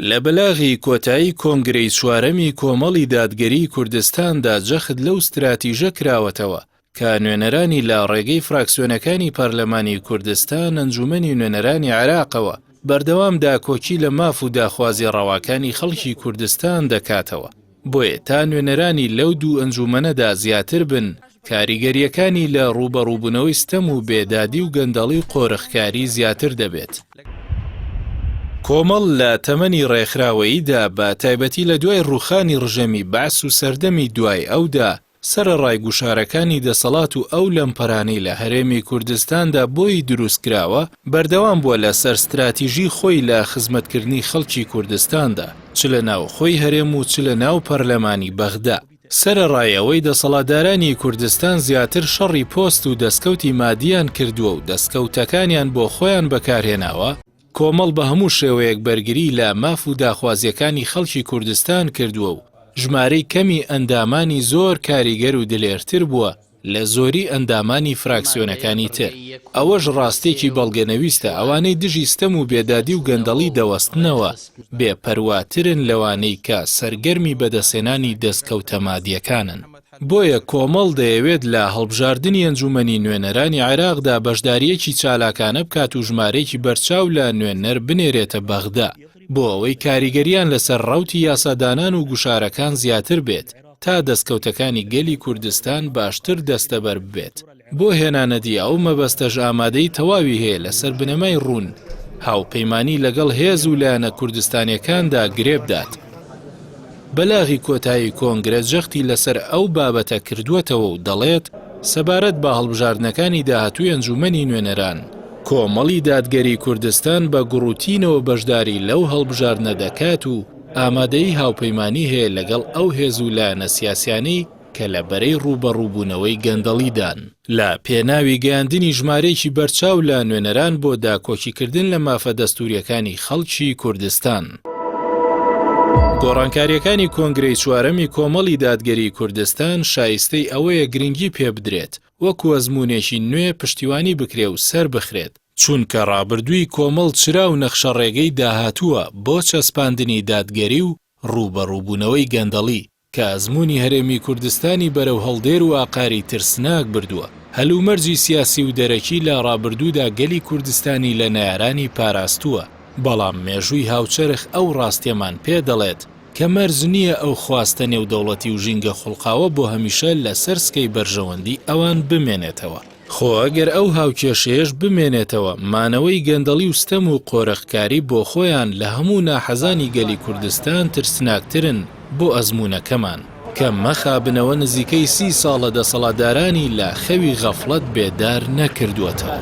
لە بلاغی کۆتایی کۆنگرەی چوارەمی کۆمەڵی دادگەریی کوردستاندا جەخت لەو ستراتیژە کراوەتەوە کە نوێنەرانی لە ڕێگەی فراکسیۆنەکانی پەرلەمانی کوردستان ئەنجوومەنی نوێنەرانی عێراقەوە بەردەوام داکۆکی لە ماف و داخوازییە ڕەواکانی خەڵکی کوردستان دەکاتەوە. بۆیە تا نوێنەرانی لەو دوو ئەنجوومەنەدا زیاتر بن، کاریگەرییەکانی لە ڕووبەڕووبوونەوەی ستەم و بێدادی و گەندەڵی و قۆرخکاری زیاتر دەبێت. کۆمەڵ لە تەمەنی ڕێکخراوەییدا، بە تایبەتی لە دوای ڕووخانی ڕژێمی بەعس و سەردەمی دوای ئەودا، سەرەڕای گوشارەکانی دەسەڵات و ئەو لەمپەرانەی لە هەرێمی کوردستاندا بۆی دروستکراوە، بەردەوام بووە لە سەر ستراتیژی خۆی لە خزمەتکردنی خەڵکی کوردستاندا، چ لە ناوخۆی هەرێم و چ لە ناو پەرلەمانی بەغدا. سەرەڕای ئەوەی دەسەڵاتدارانی کوردستان زیاتر شەڕی پۆست و دەستکەوتی مادییان کردووە و دەستکەوتەکانیان بۆ خۆیان بەکارهێناوە، کۆمەڵ بە هەموو شێوەیەک بەرگریی لە ماف و داخوازییەکانی خەڵکی کوردستان کردووە و ژمارەی کەمی ئەندامانی زۆر کاریگەر و دلێرتر بووە لە زۆری ئەندامانی فراکسیۆنەکانی تر. ئەوەش ڕاستێکی بەڵگەنەویستە ئەوانەی دژی ستەم و بێدادی و گەندەڵی دەوەستنەوە، بێ پەرواترن لەوانەی کە سەرگەرمی بەدەستهێنانی دەستکەوتە مادییەکانن. بۆیە کۆمەڵ دەیەوێت لە هەڵبژاردنی ئەنجوومەنی نوێنەرانی عێراقدا بەشدارییەکی چالاکانە بکات و ژمارەیەکی بەرچاو لە نوێنەر بنێرێتە بەغدا بۆ ئەوەی کاریگەرییان لەسەر ڕەوتی یاسادانان و گوشارەکان زیاتر بێت تا دەستکەوتەکانی گەلی کوردستان باشتر دەستەبەر ببێت. بۆ هێنانەدی ئەو مەبەستەش ئامادەیی تەواوی هەیە لەسەر بنەمای ڕوون هاوپەیمانی لەگەڵ هێز و لایەنە کوردستانیەکاندا گرێبدات. بەلاغی کۆتایی کۆنگرە جەختی لەسەر ئەو بابەتە کردووەتەوە و دەڵێت، سەبارەت بە هەڵبژاردنەکانی داهاتووی ئەنجوومەنی نوێنەران، کۆمەڵی دادگەری کوردستان بە گوڕوتینەوە بەشداری لەو هەڵبژاردنە دەکات و ئامادەیی هاوپەیمانی هەیە لەگەڵ ئەو هێز و لایەنە سیاسیانەی کە لە بەرەی ڕووبەڕووبوونەوەی گەندەڵیدان. لە پێناوی گەیاندنی ژمارەیەکی بەرچاو لە نوێنەران بۆ داکۆکیکردن لە مافە دەستوورییەکانی خەڵکی کوردستان، گۆڕانکارییەکانی کۆنگرەی چوارەمی کۆمەڵی دادگەریی کوردستان شایستەی ئەوەیە گرنگی پێبدرێت، وەکو ئەزموونێکی نوێ پشتیوانی بکرێ و سەربخرێت، چونکە ڕابردووی کۆمەڵ چرا و نەخشەڕێگەی داهاتووە بۆ چەسپاندنی دادگەری و ڕووبەڕووبوونەوەی گەندەڵی. کە ئەزموونی هەرێمی کوردستانی بەرەو هەڵدێر و ئاقاری ترسناک بردووە. هەلومەرجی سیاسی و دەرەکی لە ڕابردوودا گەلی کوردستانی لە نەیارانی پاراستووە، بەڵام مێژووی هاوچەرخ ئەو ڕاستیەمان پێ دەڵێت کە مەرج نییە ئەو خواستە نێودەوڵەتی و ژینگە خوڵقاوە بۆ هەمیشە لەسەر سکەی بەرژەوەندی ئەوان بمێنێتەوە. خۆ ئەگەر ئەو هاوکێشەیەش بمێنێتەوە، مانەوەی گەندەڵی و ستەم و قۆرخکاری بۆخۆیان لە هەموو ناحەزانی گەلی کوردستان ترسناکترن بۆ ئەزموونەکەمان، کە مەخابنەوە نزیکەی سی ساڵە دەسەڵاتدارانی لە خەوی غەفڵەت بێدار نەکردووەتەوە.